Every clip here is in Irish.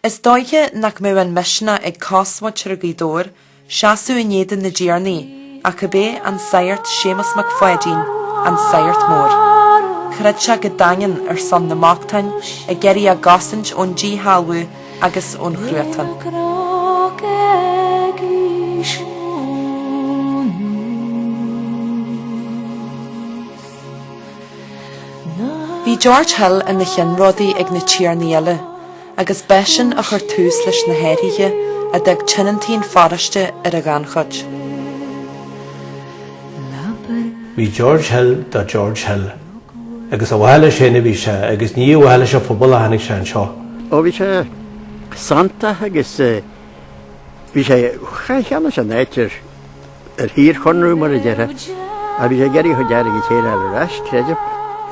Is dóiche nach mbeadh an misneach ag cosmhuintir Ghaoth Dobhair seasamh in éadan na dtiarnaí ach ab é an Sagart Séamus Mac Pháidín, an Sagart Mór. Throid sé go daingean ar son na mbochtán, ag iarraidh a gcosaint ón díshealbhú, agus ón chruatan. Bhí George Hill ina cheannródaí ag na tiarnaí eile, agus b'eisean a chuir tús leis na hathruithe a d'fhag tionóntaí na paróiste ar an ghannchuid. Bhí George Hill do George Hill agus ar mhaithe leis féin a bhí sé, agus ní ar mhaithe leis an phobal a tháinig sé anseo. Ó bhí sé santach agus bhí sé cheannaigh sé an áit ar shaorchonradh mar a déarfá, ach bhí sé ag iarraidh a chuid airgid a fháil ar ais, creidim.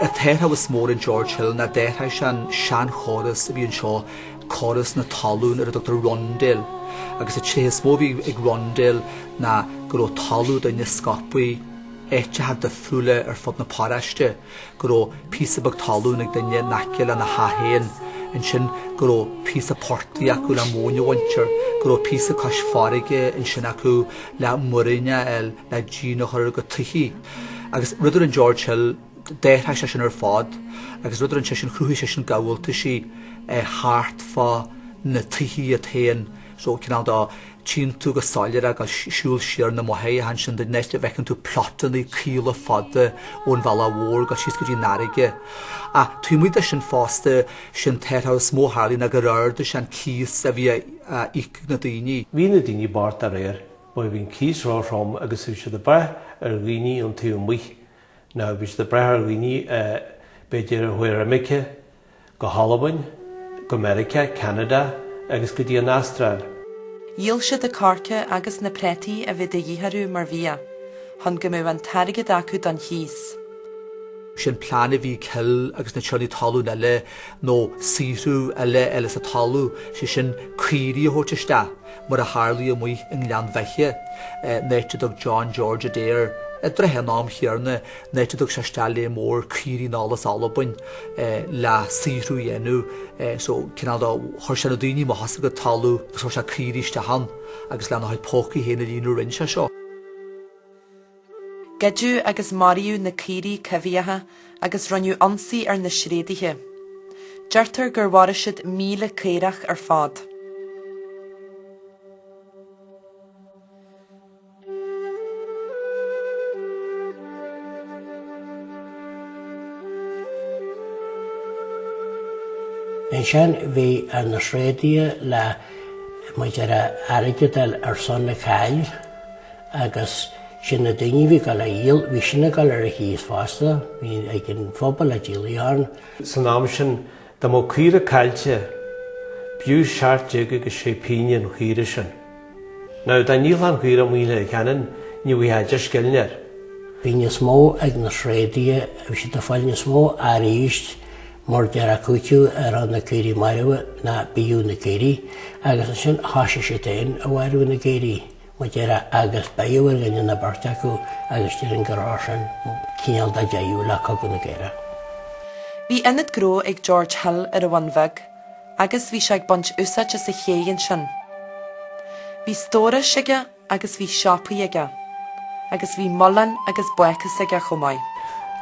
An t-athrú is mó a rinne George Hill ná d'athraigh sé an seanchóras a bhí anseo, córas na talún ar a dtugtar Rundale, agus an tréith is mó a bhí ag Rundale ná go raibh talamh daoine scaipthe. áiteacha difriúla ar fud na paróiste, go raibh píosa beag talún ag duine in aice lena theach féin, ansin go raibh píosa portaigh acu le móin a bhaint air, go raibh píosa cois farraige ansin acu le muiríneach a fháil le díon a chur ar a gcuid tithe. Agus rud a rinne George Hill, d'athraigh sé sin ar fad agus rud a rinne sé sin, chruthaigh sé sin gabháltaisí thart fá na tithe iad féin, so cineál de, tchíonn tú go soiléir ag siúl siar na mbóithre ansin an áit a bhfeiceann tú plotannaí caola fada ón bhealach mhór go síos go dtí an fharraige. Ach taobh amuigh de sin fosta, is é an t-athrú is mó a tharlaigh ná gur ardaigh sé an cíos a bhí á íoc ag na daoine. Bhí na daoine bocht dá réir, mar bhí an cíos ró-throm agus bhí siad ag brath ar dhaoine ón taobh amuigh, nó bhí siad ag brath ar dhaoine, b'fhéidir, a chuaigh ar imirce. go hAlbain, go Meiriceá, Ceanada agus go dtí an Astráil. Dhíol siad an coirce agus na preataí a bhí de dhith orthu mar bhia, chun go mbeadh an t-airgead acu don chíos. Is é an plean a bhí ag Hill agus na tiarnaí talún eile, nó saothrú eile a fháil as an talamh, sé sin caoirigh a thabhairt isteach, mar a tharlaigh amuigh i nGleann Bheithe, an áit a dtug John George Adair, i dtrátha an am chéarna, an áit a dtug sé isteach lear mór caoirigh anall as Albain le saothrú a dhéanamh so cineál de, chuir sé na daoine amach as a gcuid talaimh agus chuir sé caoirigh isteach ann agus lena chuid pócaí féin a líonadh a rinne sé seo. Goideadh agus maraíodh na caoirigh coimhthíocha agus rinneadh ionsaí ar na sréadaithe. Deirtear gur mharaigh siad míle caorach ar fad. Ansin bhí ar na sréadaithe le muid ar airgead ar son na caill agus sin na daoine bhí ag dul a dhíol, bhí sin ag dul ar an chíos fosta, bhí ag an phobal a díolaí ann. San am sin Dá mbeadh caora caillte, b'fhiú seacht déag agus sé pínne an chaora sin. Now, dá ndíolfá an chaora amuigh i Leitir Ceanainn, ní bhfuightheá deich scilling air. Bhí níos mó ag na sréadaithe, bhí siad ag fáil níos mó arís mar déarfá cúitiú ar na caoirigh marbha ná b'fhiú na caoirigh, agus ansin thoisigh siad féin a mharú na gcaoirigh. mar déarfá agus beireadh ar dhuine nó beirt acu agus déarfainn gur fhág sin cineál de dheireadh le Cogadh na gCaorach. Bhí ionad gnó ag George Hill ar an Bhun Bheag agus bhí sé ag baint úsáid as an chéidh ansin. Bhí stórais aige agus bhí siopaí aige agus bhí muileann agus bácús aige chomh maith.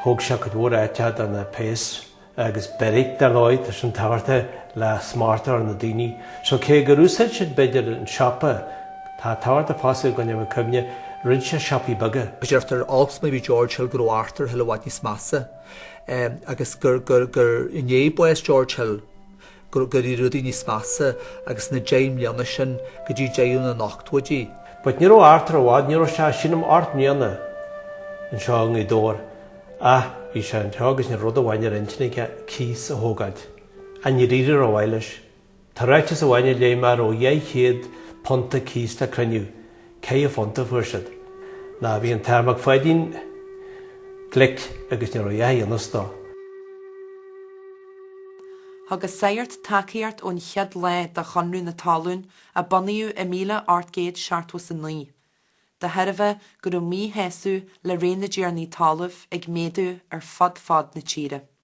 Thóg sé cuid mhór áite do na péas. agus beairic, dar ndóigh, tá sin tábhachtach le smacht ar na daoine so, cé gur úsáid siad, b'fhéidir, an siopa, tá tábhacht fosta go ndéan muid cuimhne, dhruid sé siopaí beaga. Deirtear olc is mar bhí George Hill go raibh Arthur Hill i bhfad níos measa agus gur i ndiaidh bás George Hill gur éirigh rudaí níos measa agus na deich mbliana sin go dtí deireadh na n-ochtóidí. But ní raibh Arthur i bhfad, ní raibh sé, sílim, ocht mbliana anseo i nGaoth Dobhair ach bhí sé anseo agus ní raibh ach rud amháin ar intinn aige cíos a thógáilt. Ach níor éirigh rómhaith leis. Tá ráiteas amháin a léigh mé a raibh £200 de cíos le cruinniú, Ceithre phunta fuair siad? Ná bhí an tAthair Mac Pháidín glic agus ní raibh a fhios dó. Thug an sagart tacaíocht ón chéad lá do Chonradh na Talún a bunaíodh i míle ocht gcéad seachtó is a naoi, de thairbhe go raibh míshásamh le ré na dtiarnaí talamh ag méadú ar fud fad na tíre.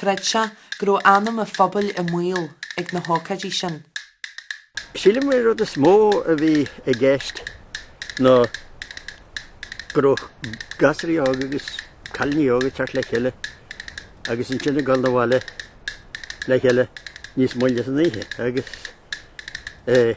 Chreid sé go raibh anam a phobail i mbaol ag na hócáidí sin. Sílim an rud is mó a bhí i gceist ná go raibh gasraí óga agus cailiní óga ag teacht le chéile agus ansin ag dul 'na bhaile le chéile níos moille san oíche agus é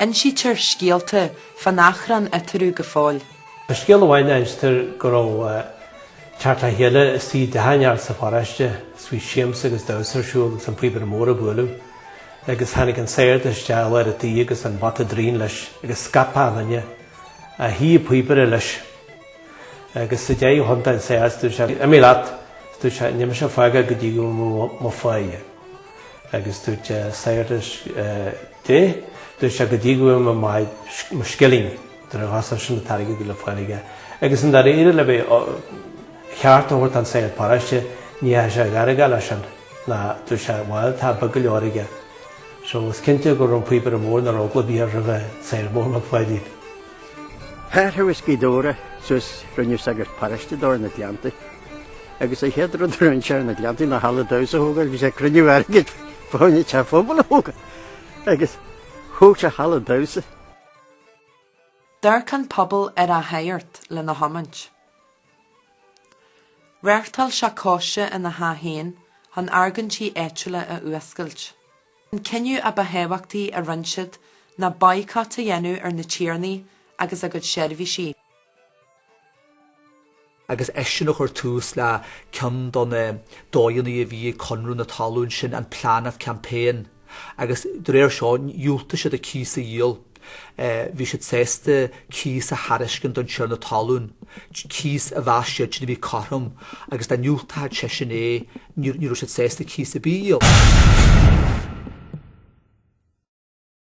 Insítear scéalta fán achrann eatarthu go fóill. Tá scéal amháin a instear go raibh teacht le chéile istigh i dteach inteacht sa pharóiste is bhí siamsa agus damhsa ar siúl agus an píobaire mór ag bualadh agus tháinig an sagart isteach i lár an tí agus an bata draighin leis agus scaip achan duine ach shuigh an píobaire leis agus sa deireadh thiontaigh an sagart is dúirt sé imigh leat dúirt sé níl mise ag fágáil go dtí go bhfaighidh mé mo pháighe. agus dúirt sé, a shagairt, dúirt sé, go dtí go bhfaighidh mé mo scilling, nuair a ghasfadh sin an t-airgead a bhí le fáil aige. Agus i ndáiríre lena cheart a thabhairt don sagart paráiste, ní raibh sé gairgeach leis sin, ná dúirt sé, bhail, tá, beag go leor aige. So, is cinnte go raibh an Píobaire Mór nach raibh eagla ar bith air roimh an Sagart Mór Mac Pháidín. Chaith sé Gaoth Dobhair suas, rinneadh sagart paráiste dó ar na Gleanntaí. agus an chéad rud a rinne sé ar na Gleanntaí ná halla damhsa a thógáil, bhí sé ag cruinniú airgid fá choinne teach pobail a thógáil agus thóg sé halla damhsa. D'amharc an pobal ar a shagart lena thiomáint. Reáchtáil sé cóiste ina theach féin chun argóintí áitiúla a fhuascailt. An cinneadh a ba thábhachtaí a rinne siad ná baghcat a dhéanamh ar na tiarnaí agus a gcuid seirbhísí. agus eisean a chuir tús le ceann de na dóigheanna a bhí ag Conradh na Talún sin, an Plan of Campaign, agus de réir seo dhiúltaigh siad an cíos a dhíol. Bhí siad sásta cíos a thairiscint don tiarna talún, cíos a mheas siadsan a bhí cothrom, agus dá ndiúltfadh seisean é, ní raibh siad sásta cíos ar bith a dhíol.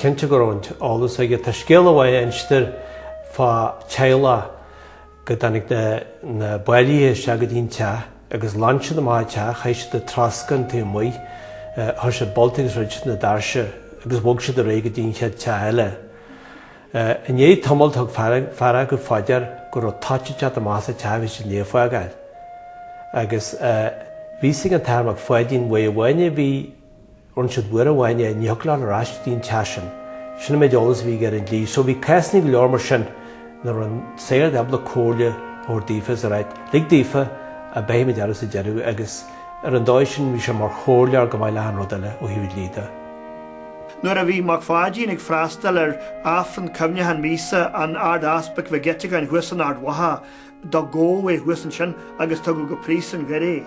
Is cinnte go raibh an t-eolas aige. Tá scéal amháin a instear fá teaghlach go dtáinig na báillí isteach go dtí an teach. agus ghlan siad amach an teach, chaith siad an troscán taobh amuigh, chuir siad bolta agus dhruid siad na doirse agus bhog siad ar aghaidh go dtí an chéad teach eile. I ndiaidh tamaill thug fear acu fá dear go raibh toit ag teacht amach as an teach a bhí siad i ndiaidh a fhágáil, agus bhí a fhios ag an tAthair Mac Pháidín uair amháin a bhí, rinne siad uair amháin é, ní thiocfadh leat ar ais go dtí an teach sin. Sin an méid eolas a bhí aige ar an dlí. So bhí cásanna go leor mar sin ina raibh an sagart ábalta comhairle a thabhairt daofa is a ráit, lig daofa beidh muid ar ais sa deireadh agus ar an dóigh sin bhí sé mar chomhairleoir chomh maith le achan rud eile ó thaobh dlí de. Nuair a bhí Mac Pháidín ag freastal ar Aifreann Cuimhneachán Míosa an Ard-Easpaig Mhig Eiteagáin thuas in Ard Mhacha, do gabhadh é thuas ansin agus tugadh go Príosún Dhoire é.